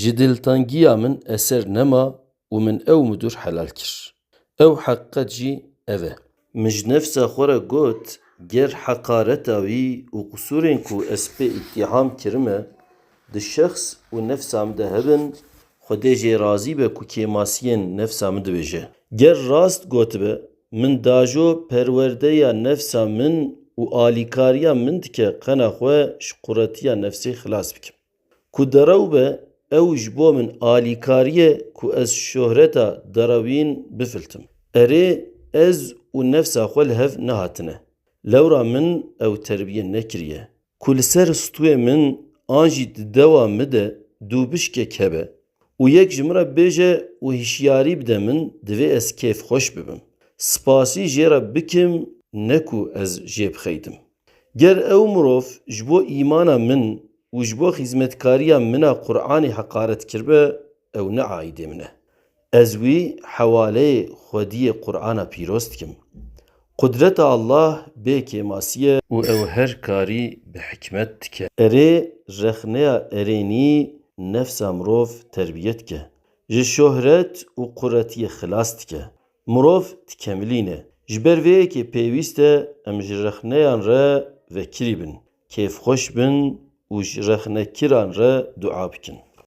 Ji diltangiya min eser nema û min ew midur helal kir. Ew heqiqet jî ev e. Min ji nefsa xwe re got, ger heqareta wî û qisûrên ku ez pê îttîham kirime di şexs û nefsa min de hebin, Xwedê jê razî be ku kêmasiyên nefsa min dibêje. Ger rast gotibe, min dajo perwerdeya nefsa min û alîkariya min dike qena xwe ji quretiya nefsê xilas bikim. Ku derew be ew ji bo min alîkariye ku ez şohreta derewîn bifiltim. Erê ez û nefsa xwe li hev nehatine. Lewra min ew terbiye nekiriye. Ku li ser stûyê min an jî di dewa mi de dûbişkek hebe. Û yek ji min re bibêje û hişyarî bide min, divê ez kêfxweş bibim. Spasî jê re bikim ne ku ez jê bixeydim. Ger ew mirov ji bo îmana min û ji bo xîzmetkariya min a Quranê heqaret kiribe, ew ne aîdê min e. Ez wî hewaleyê xwediyê Qurana pîroz dikim. Qudreta Allah bê kêmasî ye. Û ew her karî bi hikmet dike. Erê, rexneya erênî nefsa mirov terbîye dike. Ji şohret û quretîyê xilas dike. Mirov dikemilîne. Ji ber vê yekê pêwîst e em ji rexneyan re vekirî bin, kêfxweş bin û ji rexnekiran re dua bikin.